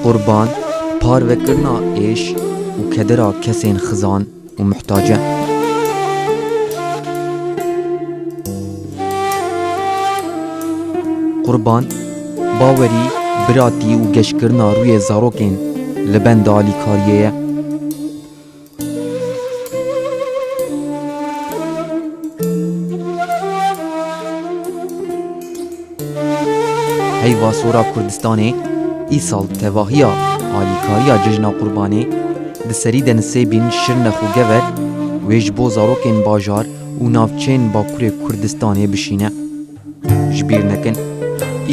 Qurban, parvekirina êş û kedira kesên xizan û muhtace. Qurban, bawerî, biratî û geşkirina rûyê zarokên li benda alîkariyê ye. Heyva Sora Kurdistanê îsal tevahiya alîkariya Cejna Qurbanê di serî de nisêbîn Şirnex û Gever wê ji bo zarokên bajar û navçeyên Bakurê Kurdistanê bişîne. Ji bîr nekin,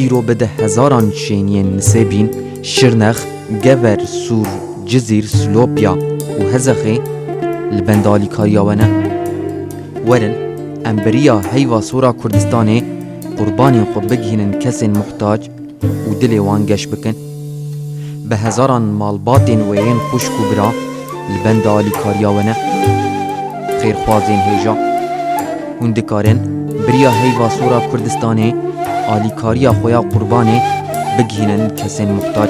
îro bi di hezaran şêniyên Nisêbîn, Şirnex, Gever, Sûr, Cizîr, Silopya û Hezexê li benda alîkariya we ne. Werin em bi riya heyva sor a Kurdistanê qurbanên xwe bigihînin kesên muhtac û dilê wan geş bikin. Bi hezaran malbatên we yên xwişk û bira li benda alîkariya we ne. Xêrxwazên hêja. Hûn dikarin biriya heyva sora Kurdistanê alîkariya xwe ya qurbanê bigihînin kesên muxtar.